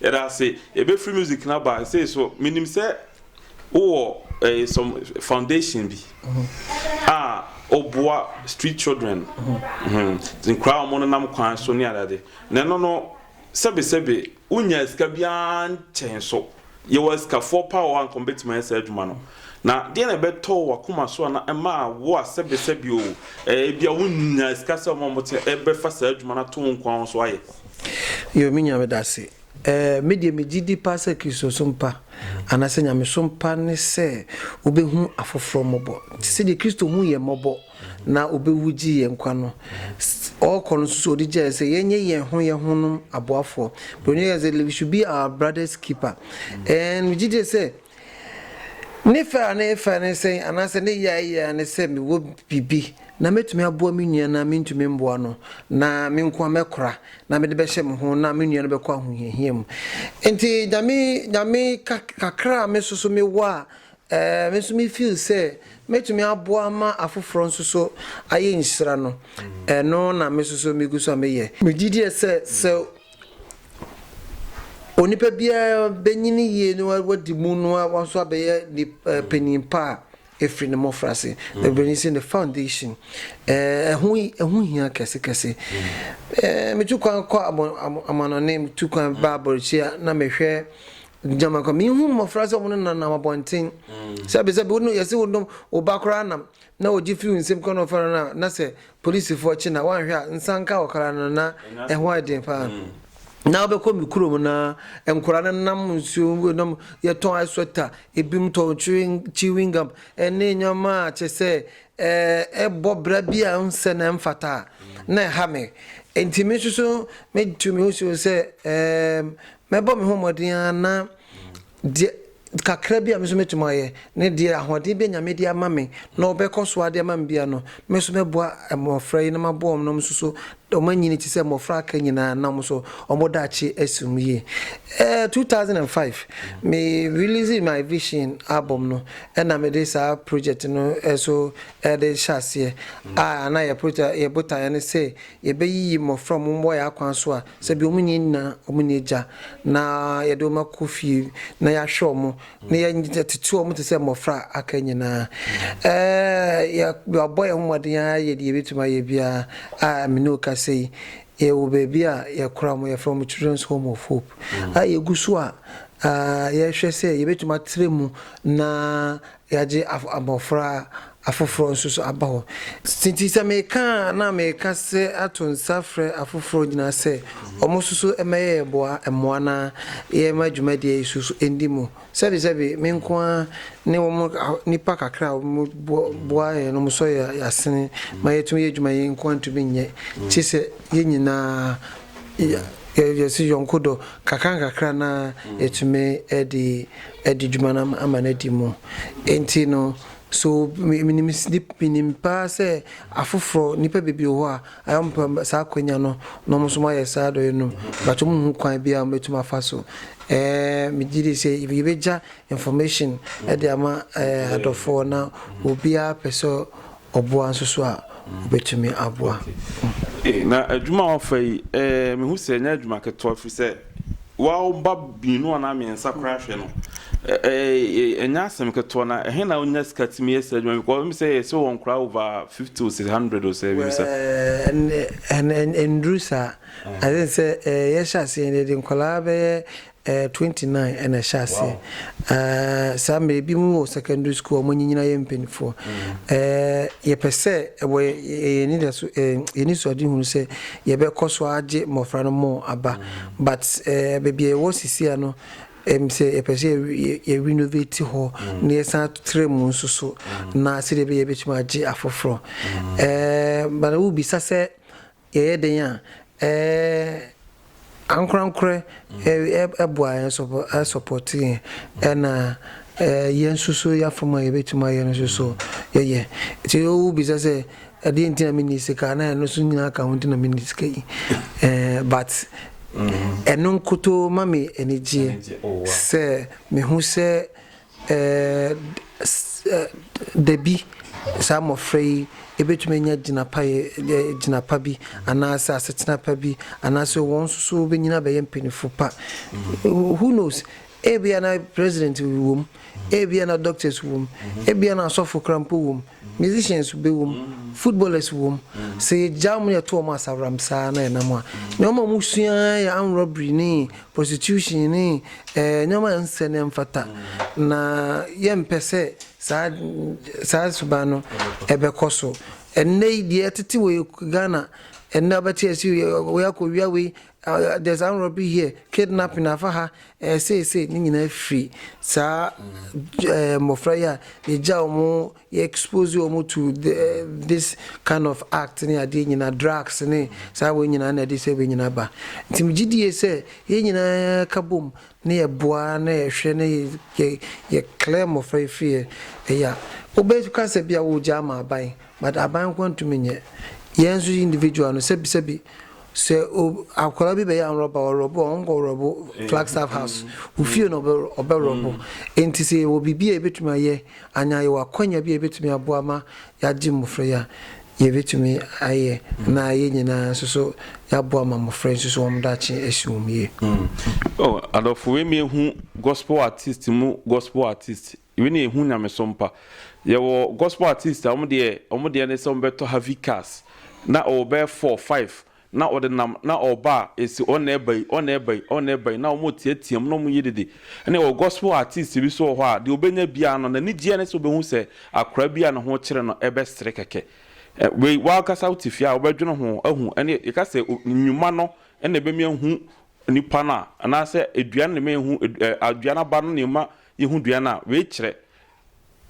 Yɛda ase. Yɛbɛ free music no aba sei so menim sɛ wowɔ eh, some foundation bi a ɔboa street children mhm, nkoraa a wɔn nenam kwan so ne adade na ɛno no sɛbesɛbe wonya sika biara nkyɛn so yɛwɔ asikafoɔ paa wɔ a nka wɔbɛtumi ayɛ saa adwuma no na deɛ na ɛbɛtɔ wɔ akoma so a na ɛma wo a sɛbesɛbe o eh, ebia wonya sika sɛ wɔn a wɔte ɛbɛfa saa adwuma no ato wo nkoa ho so ayɛ Yoo me Nyame dase. Eh me deɛ me gyidi paa sɛ Kristosom pa anaasɛ Nyamesom pa ne sɛ wobɛhu afoforɔ mmɔbɔ te sɛdeɛ Kristo huu yɛn mmɔbɔ na ɔbɛwu gyee yɛn nkwa no. Ɔɔkɔ no nso so ɔde gyaeɛ sɛ yɛnyɛ yɛn ho yɛn honom aboafoɔ. Broni yɛ sɛ we should be our brother's keeper and megye die sɛ Ne fɛ a na efa ne sɛn anaasɛ ne yɛ a eye ara ne sɛ mewɔ biribi na metumi aboa me nua na mintumi mboa no, na me nko ara mɛkora na mede bɛhyɛ me ho na me nua no bɛkɔ ahohiahia mu. Enti Nyame Nyame ka kakra a me nso so mewɔ a eh me nso me feel sɛ mɛtumi aboa ama afoforɔ nso so ayɛ nhyira no, ɛno na me nso so megu so a meyɛ. Megye die sɛ sɛ Onipa biara bɛnyini yie na wadi mu na wa nso abɛyɛ nip ɛɛ panin pa a ɛfiri ne mmɔfraase. Ɛbɛni sɛ ne foundation ɛɛ ɛho ɛho hia kɛse kɛse. Ɛɛ metu kwan kɔ abɔ amo amanɔne metu kwan ba abɔrɔkyire a na mehwɛ gyama kɔ mehu mmɔfra sɛ wɔn nenam abɔnten sɛbesɛbe wo no yɛse wo nom wo ba koraa nam na ɔgye firi wo nsam kɔ na ɔfa no a na sɛ Polisifo kye na woanhwɛ a nsa nka wo kra no na ɛho ayɛ den paa. Na wobɛkɔ me kurom na nkora no nam nsuo mu nam yɛtɔn ice sweater, ebinom tɔn chewing gum ne nneɛma a kyɛ sɛ ɛbɔ bra bi a nsɛ na ɛmfata a na ɛha me. Enti me nso so metu me ho si hɔ sɛ mɛbɔ me ho mmɔden ara na Deɛ kakra bi a me nso mɛtumi ayɛ, ne deɛ ahoɔden bi a Nyame de ama me, na ɔbɛkɔ so ara de ama me biara no, me nso mɛboa mmɔfra yi na maboa wɔn na wɔn nso so, wɔn anyini te sɛ mmɔfra a aka nyinaa na wɔn nso wɔn daakye asi wɔn yie. Ɛɛ two thousand and five, me release my vision album no, ɛna mede saa project no nso ɛde hyɛ aseɛ, a na yɛ project, yɛ botaeɛ ne sɛ yɛbɛyiyi mmɔfra a wɔn wɔ yɛn akwan so a Sɛ bi wɔn nyɛ nyina, wɔn nyɛ agya, na yɛde wɔn akɔ fie na yɛahwɛ wɔn, na yɛtete wɔn te sɛ mmɔfra a aka nyina. Yɛabɔ yɛn ho mmɔden ara yɛ deɛ yɛbɛtumi ayɛ biara a me ne wo kasa yi, yɛwɔ baabi a yɛkora wɔn, yɛfrɛ wɔn Children's Home of Hope, a yɛgu so a yɛhwɛ sɛ yɛbɛtumi atra mu na Yɛagye abɔfra afoforɔ nso so aba hɔ. Nti sɛ meka a, na meka sɛ ato nsa afrɛ afoforɔ nyinaa sɛ wɔn nso so mmɛyɛ yɛn boa mmoa na yɛmma dwumadie yi so so ndi mu. Sɛbesɛbe, me nko ara ne wɔn nnipa kakra a wɔboa yɛn no sɔ yɛn asene ma yɛtumi yɛ adwuma a yɛn nko ara ntumi nyɛ, gye sɛ yɛn nyinaa yɛsi yɔnko dɔ nkakrankakra na yɛtumi de adi dwuma no ama no adi mu. Enti no, so minim minim paa sɛ afoforɔ, nnipa bebree wɔ hɔ a, ayɛ wɔn pɛ saa akwanya no na wɔn nso wɔayɛ saa adɔeɛ no. Mpakyɛ mo hu kwan bi a wɔbɛtumi afa so? Ɛɛ, megye di sɛ yɛbɛgya information de ama ɛɛ adɔfoɔ na obiara pɛ sɛ ɔboa nso so a, wobɛtumi aboa wo. Na adwuma a woafa yi, mehu sɛ ɛnyɛ adwuma ketewa, ɛfiri sɛ woa wo mma mmienu anaa mmiɛnsa koraa hwɛ no, ɛnyɛ asɛm ketewa. Na ɛhe na wonya sika tumi yɛ saa adwuma yi? Because wonim sɛ yɛhyɛ wɔn koraa over fifty o, sɛ hundred o, sɛ biribi saa. Ɛnnuru saa. I think sɛ yɛhyɛ aseɛ no, yɛde nkwadaa bɛyɛ Eh, twenty nine ɛna ɛhyɛ aseɛ. Eh, saa mmerɛ ebi mu wɔ secondary school wɔn nyinyi na yɛ mpanimfoɔ. Eh, yɛpɛ sɛ ɛwɔ yɛn ani da so eh, yɛn ani so ade hunu sɛ yɛbɛkɔ so agye mmɔfra no mo aba. But eh, baabi a yɛwɔ sisi ano ɛm sɛ yɛpɛ sɛ yɛ yɛ renovate hɔ na yɛsan tra mu nso so na sɛdeɛ ɛbɛyɛ yɛbɛtumi agye afoforɔ. Eh, bana wobisa sɛ Yɛyɛ dɛn a ankorankorɛ boa yɛn, support yɛn, ɛna yɛn nso so yɛn afam a yɛbɛtumi ayɛ no nso so yɛyɛ. Nti wobisa sɛ ɛdeɛn nti na menni sika a, na ɛno nso nyinaa ka ho nti na menni sika yi but ɛno nkotoo ma me anigyeɛ sɛ mehu sɛ Dabi, saa mmofra yi betumi anya gyinapɛgyina pa bi anaasɛ asetena pa bi, anaasɛ wɔn nso so wɔbɛnyini abɛyɛ mpanyimfo pa. Who knows? Ebia na president wom, ebia na doctors wom, ebia na asɔfo koraa mpo wom. Musicians bɛwɔ mu, footballers wɔ mu, sɛ yɛgya wɔn na yɛto wɔn asaworam saa na ɛnam a. Nneɛma a wɔsua ara yɛ armed robbery ne prostitution ne nneɛma a ɛnsɛ na ɛmfata, na yɛmpɛ sɛ saa saa suban no ɛbɛkɔ so. Ɛnnɛ yi deɛ ɛtete wɔ Ghana, ɛnnɛ wobɛte ase wei akɔwia wei, There's an robbery here, kidnapping afa ha, eh, say say, ne nyinaa firi saa eh, mmɔfra yi a yɛgya wɔn yɛ expose wɔn to the, eh, this kind of act ne adeɛ nyinaa drugs ne saa wɔn nyinaa na ɛde sɛ wɔn nyinaa ba nti megye die sɛ yɛn nyinaa ka bom ne yɛ boa na yɛhwɛ ne yɛ yɛ clear mmɔfra yi firi yɛ ɛyɛ a wobɛka sɛ bi a wɔgya ama aban but aban nko ntumi nyɛ yɛn nso individual no sɛbisɛbi Sɛ ob, akwadaa bi bɛyɛ anwrɔbo a, ɔwrɔbo a, ɔnkɔ wrɔbo Flagstaff House. Wo fie na ɔbɛ, ɔbɛwrɔbo. Enti sɛ yɛwɔ biribi a yɛbɛtumi ayɛ, anaa yɛwɔ akwanya bi a yɛbɛtumi aboa ma yɛagye mmofra yi a, yɛbɛtumi ayɛ, na yɛn nyinaa nso so yɛaboa ma mmofra yi nso so wɔn daakye asi wɔn yie. Oh, adɔfo, wei mehu gospel artist mu gospel artist. Wei na yɛhu nyamesom pa. Yɛwɔ gospel artist a wɔn deɛ wɔn deɛ ne sɛ wɔn bɛtɔ heavy cars na ɔwɔ bɛyɛ four, five na ɔde nam na ɔba a esi ɔn na ɛba yi, ɔn na ɛba yi, ɔn na ɛba yi na wɔn reteatea mu na wɔn yɛ dede. Ɛna yɛwɔ gospel artist bi nso wɔ hɔ a deɛ ɔbɛnya biara no n'anigyeɛ ne sɛ ɔbɛhu sɛ akwadaa bi a ne ho kyere no ɛbɛsere kɛkɛ. Ɛ, wei w'ankasa wote fie a wobɛdwene ho ahu ɛne yɛka sɛ o, nnwuma no ɛna ɛbɛmi ahu nipa no a anaasɛ aduane na ɛma yɛhu ɛ, aduane aba no na ɛma Yehu dua no a, wei kyerɛ.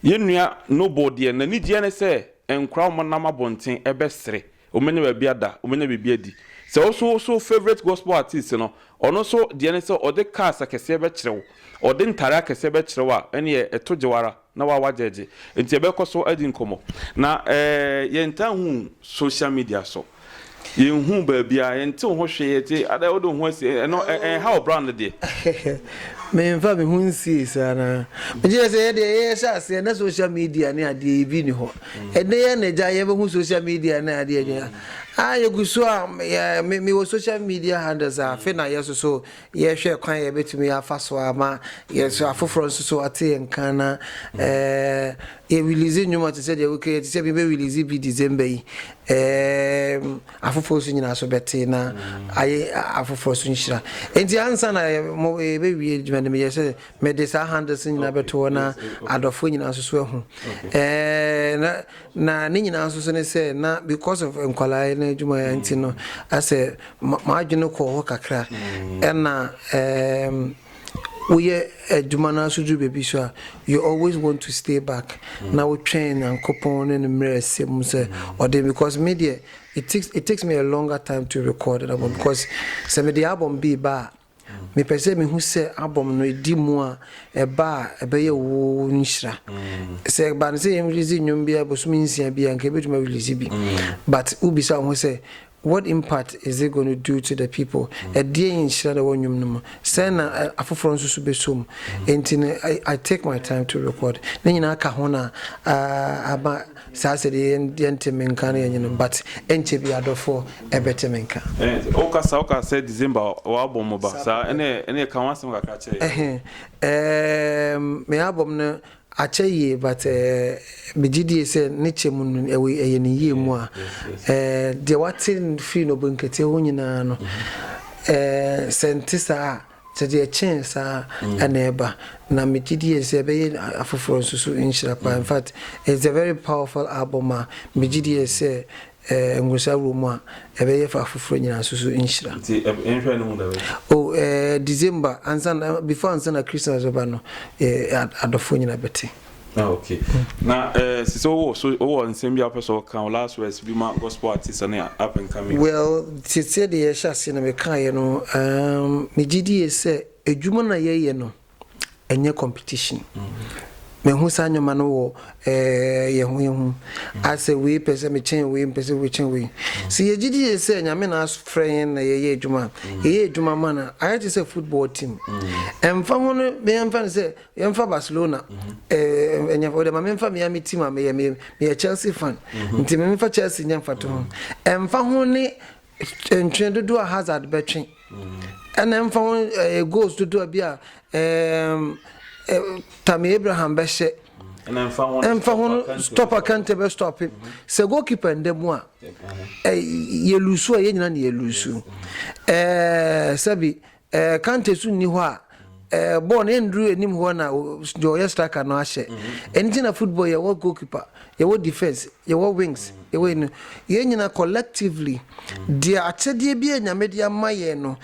Yɛn nua Noble deɛ, n'anigyeɛ ne sɛ nkwadaa a wɔnam abɔnten bɛsere, wɔbɛnya baabi ada, wɔbɛnya biribi adi. Sɛ wo nso wo so favourite gospel artiste no, ɔno nso deɛ ne sɛ ɔde cars akɛseɛ bɛkyerɛ wo, ɔde ntadeɛ akɛseɛ bɛkyerɛ wo a, ɛnneɛ ɛto gye wo ara na woa woagyɛgye. Nti yɛbɛkɔ so adi nkɔmmɔ. Na eh, yɛntaa nhu social media so. Yɛnhuu baabiara, yɛntee ho hwee, yɛte, adɛn wode wo ho asi, ɛno ɛnha wo bra no deɛ. Menfa me ho nsie saa no ara. Megye sɛ yɛn deɛ yɛhyɛ aseɛ na social media ne adeɛ yi bi nni hɔ. Ɛnnɛ yɛn na agya yɛbɛhu social media ne adeɛ adwene. Ah yɛgu so a, me me wɔ social media handles a afe na yɛsoso. Yɛhwɛ kwan a yɛbɛtumi afa so ama yɛn nso afoforɔ nso so ate yɛn nka na yɛ release nnwuma te sɛ deɛ wo kɛ te sɛ mebɛ release bi December yi afoforɔ nso nyinaa so bɛte na ayɛ afoforɔ so nhyira nti ansa na yɛbɛwie adwuma no meyɛ sɛ mede saa handles nyinaa bɛto hɔ na adɔfoɔ nyinaa nso so ahu na Na ne nyinaa nso so ne sɛ na because of nkwadaa no adwumayɛ nti no asɛ m'adwene kɔɔ hɔ kakra ɛna ɛɛm woyɛ adwuma no aso duru baabi so a you always want to stay back na wotwɛn nyankopɔn ne no mmerɛ ɛsɛ mu sɛ ɔde because me deɛ it takes, it takes me a longer time to record an album because sɛ mede album bi ba a Mepɛ sɛ mehu sɛ album no edi mu a ɛba a ɛbɛyɛ wo nhyira. Sɛ ɛba no sɛ yɛn release nnwom biara bosome nsia bi a nka yɛbɛtumi a release bi but wo bisa wo ho sɛ what impact is it gonna do to the people? Ɛdeɛn nhyira na ɛwɔ nnwom no mu? Sɛn na afoforɔ nso so bɛsɔ mu? Enti no I take my time to record ne nyinaa ka ho na ama Saa sɛ deɛ yɛnte me nka no yɛ nyenom but ɛnkyɛ biaa dɔfoɔ ɛbɛte me nka. Ɛhɛn wo kasa wo ka sɛ December wo album mo ba saa ɛne ɛne ka ho asɛm kakra kyɛɛ yɛn. Ɛhɛn ɛɛm me album no akyɛ yie but ɛɛ me gye die sɛ ne kyɛ mu no ɛwɔ ɛyɛ ne yie mu a ɛɛ deɛ wate firi no bo nkatia hɔ nyinaa no ɛɛ sɛ nte saa a. Sɛ deɛ ɛkyɛn saa ara na ɛba, na me gye die sɛ ɛbɛyɛ afoforɔ nso so nhyira paa. In fact, it's a very powerful album a me gye die sɛ Nworsa wɔ mu a, ɛbɛyɛ fa afoforɔ nyinaa nso so nhyira. Nti nhwɛ no mu da bɛn? Oh, eh, December, ansa na, before ansa na Christmas bɛba no, eh, adɔfoɔ nyinaa bɛte. Ah, okay. Na eh, sisi ɔwɔ so ɔwɔ nsɛm bi apɛ sɛ ɔka o last words bi ma gospel artist ne up and coming. Well, tete de yɛhyɛ ase no mekaeɛ no, um, megye die sɛ adwuma na yɛyɛ no ɛnyɛ competition. Mehu saa nneɛma no wɔ eh, yɛn ho yɛn ho. Asɛ wei pɛ sɛ mekyɛn wei, mpɛ sɛ wɔkyɛn wei. Sɛ yɛgye die sɛ Nyame na afrɛ yɛn na yɛyɛ adwuma a, yɛyɛ adwuma ma no a, ayɛ te sɛ football team. Ɛmfa ho no, yɛmfa no sɛ Yɛmfa Barcelona eh, ɛnyɛ wode ma memfa me a me team a meyɛ meyɛ Chelsea fan mhm. nti memfa Chelsea nyɛ mfato ho ɛmfa ho ne ntwe dodoɔ a Hazard bɛtwe mhm. ɛna ɛmfa ho eh, goals dodoɔ bi a Tammy Abraham bɛhyɛ ɛmfa ho no stɔpa kante bɛ stɔpe mhm. sɛ goalkeeper ndɛ mu a yɛlusu a yɛnyina ne yɛlusu sɛbi Eh, Kante so nni hɔ a eh, bɔɔl no ɛnduru anim hɔ na deɛ ɔyɛ striker no ahyɛ. Mm-hmm. Ɛno nti na football yɛwɔ goalkeeper, yɛwɔ defence, yɛwɔ wings, mm-hmm. yɛwɔ ɛno. Yɛn nyina collectively, mm-hmm. deɛ akyɛdeɛ bi a Nyame de ama yɛn no,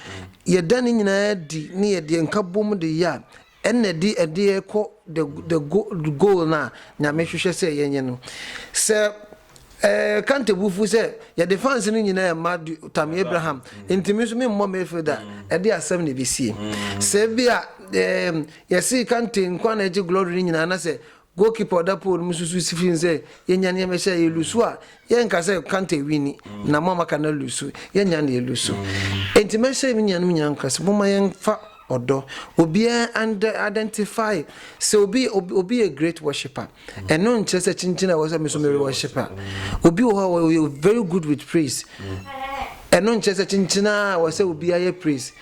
yɛda ne nyinaa di ne yɛde nka bom de yɛ a, Ɛna di ɛdeɛ kɔ the the go goal no a Nyame hwehwɛ sɛ yɛnyɛ no. Sɛ eh Kante bo fu sɛ yɛde fans no nyinaa ɛmma du Tammy Abraham nti me nso me mmɔ midfield a, ɛdeɛ asɛm na ɛbɛsie. Sɛ ebia eh yɛse Kante nkoa na ɛgye glory no nyinaa na sɛ Goalkeeper a ɔda pole no mu nso susu fi mu sɛ, Yɛnya nea ɛmɛ hyɛ, yɛlusu a, yɛnka sɛ Kante winni, na mo a moaka no alusu. Yɛnnya nea ɛlusu. Enti mɛhyɛ me nuanom nyinaa nkuran sɛ, momma yɛmfa ɔdɔ. Obiara nd identify sɛ obi, obi, obi yɛ great worshipper. Ɛno nkyerɛ sɛ kyinkyin a ɛwɔ sɛ me nso mere worship a. Obi wɔ hɔ a ɔyɛ very good with praise. Ɛno nkyerɛ sɛ kyinkyin ara a ɛwɔ sɛ obiara yɛ praise.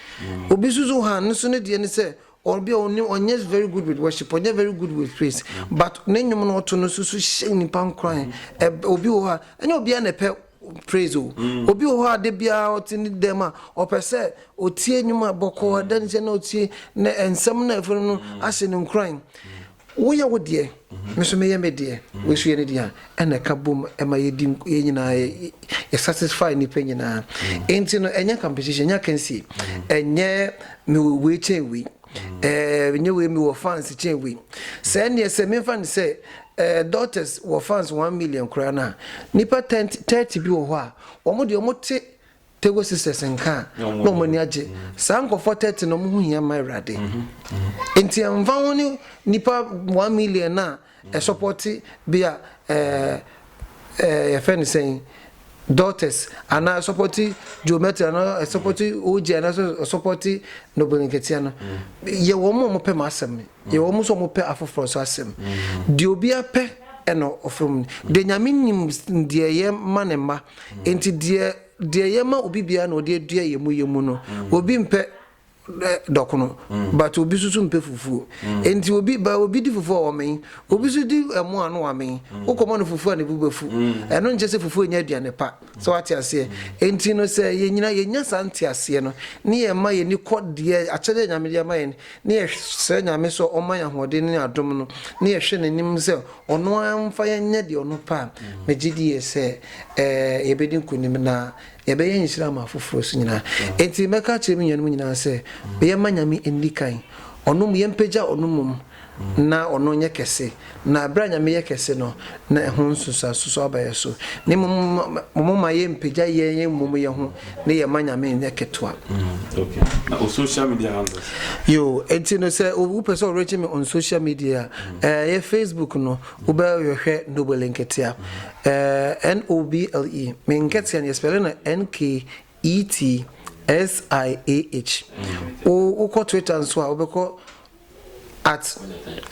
Obi nso so han, ne so ne deɛ ne sɛ Obi a ɔnnim, ɔnyɛ very good with worship, ɔnyɛ very good with praise, but ne nnwom no ɔto no so so hyɛ nnipa nkuran. Ɛb obi wɔ hɔ a, ɛnyɛ obiara na ɛpɛ praise o. Obi wɔ hɔ a da biara ɔte ne dɛm a, ɔpɛ sɛ ɔtie nnwom a bɔkɔɔ, adansi a na ɔtie, na nsɛm no a ɛfa no no ahyɛ no nkuran. Woyɛ wo deɛ, me nso meyɛ me deɛ, wei nso yɛ ne deɛ a, ɛna ɛka bom ma yɛdi nk yɛn nyinaa yɛ yɛ satisfy nnipa nyinaa. Enti no, ɛnyɛ competition, ɛnyɛ akansie, ɛnyɛ mewɔ wei kyɛn wei, ɛɛ ɛnyɛ wei mewɔ fans kyɛn wei. Sɛ ɛnneɛ sɛ memfa no sɛ ɛɛ Daughters wɔ fans one million koraa no a, nnipa ten thirty bi wɔ hɔ a, wɔn deɛ wɔte Tego Sisters nka a, na wɔn ani agye. Saa nkurɔfoɔ thirty no, wɔn ho hia ma Awurade. Nti ɛmfa ho ne nipa one million no a ɛsɔpɔte bi a ɛɛ ɛɛ yɛfrɛ no sɛn daughters anaa ɛsɔpɔte Joe Metro anaa ɛsɔpɔte OJ anaa ɛsɔpɔte Noble Nketia no, yɛ wɔn a wɔpɛ m'asɛm no. Yɛwɔ wɔn sɛ wɔpɛ afoforɔ nso asɛm. Deɛ obiara pɛ ɛna ɔfrɛ mu. Deɛ Nyame nim deɛ yɛ ma ne mma. Enti deɛ deɛ yɛ ma obi biara na ɔde adua yɛ mu yɛ mu no. Obi mpɛ dɔkono, but obi nso so mpɛ fufuo. Enti obi ba obi di fufuo a wɔmen, obi nso di ɛmo a na wɔamen. Wokɔma no fufuo a ne bo bɛfu. Ɛno nkyɛ sɛ fufuo nyɛ aduane pa. So wate aseɛ? Enti no sɛ yɛn nyinaa yɛnya saa nteaseɛ no, ne yɛma yɛn ani kɔ deɛ, akyɛdeɛ a Nyame de ama yɛn, ne yɛsrɛ Nyame sɛ ɔmma yɛn ahoɔden ne adom no, ne yɛhwɛ N'anim sɛ Ɔno ara mfa yɛn nyɛ deɛ Ɔno pɛ a, megye die sɛ ɛɛ yɛbɛdi nkonim na yɛbɛyɛ nhyira ama afoforɔ nso nyinaa. Enti mɛka akyerɛ me nuanom nyinaa sɛ yɛmma Nyame nni kan, Ɔno mmom, yɛmpagya Ɔno mmom, Ná ɔno nyɛ kɛse, na bere a Nyame yɛ kɛse no, na ɛho nsunsuanso aba yɛn so. Na mmom momma yɛmpagya yɛn amumuyɛ ho na yɛmma Nyame nyɛ ketewa. Okay, na wo social media handles? Yoo, enti no sɛ wopɛ sɛ ɔreakye me on social media a, ɛyɛ Facebook no, wobɛhwɛ Noble Nketea, N-O-B-L-E. Me Nketea no, yɛspɛle no N-K-E-T-S-I-A-H. Wokɔ Twitter nso a, wobɛkɔ At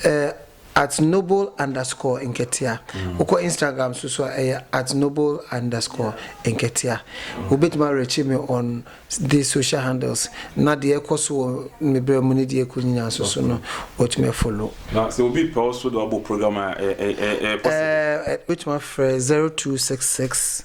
eh, at noble underscore nketea wokɔ instagram so so a ɛyɛ at noble underscore nketea wobɛtumi arekye me on this social handles na deɛ ɛkɔ so wɔ me berɛ mu ne deɛ ɛkɔ nyinaa nso so no wɔtumi afolo na sɛ obi pɛ wo so de wabɔ program a ɛɛ ɛɛ ɛɛ possible ɛɛ wobɛtumi afrɛ 0266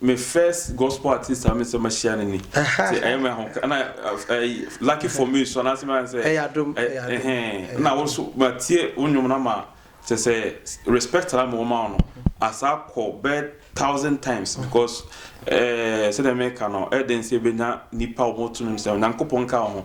Me first gospel artist a me sɛ mahyia no ni nti ɛyɛ me ahomka na ɛyi lucky for me so anaasɛ mɛyɛ sɛ ɛyɛ adom ɛhɛn na wo so matie wo nnwom no ama kyɛ sɛ respect ara ma wɔma wo no asa kɔ bɛ thousand times because ɛɛ sɛdeɛ meka no ɛyɛ den sɛ yɛbɛnya nnipa a wɔto nnwom sɛ Onyankopɔn nka wo ho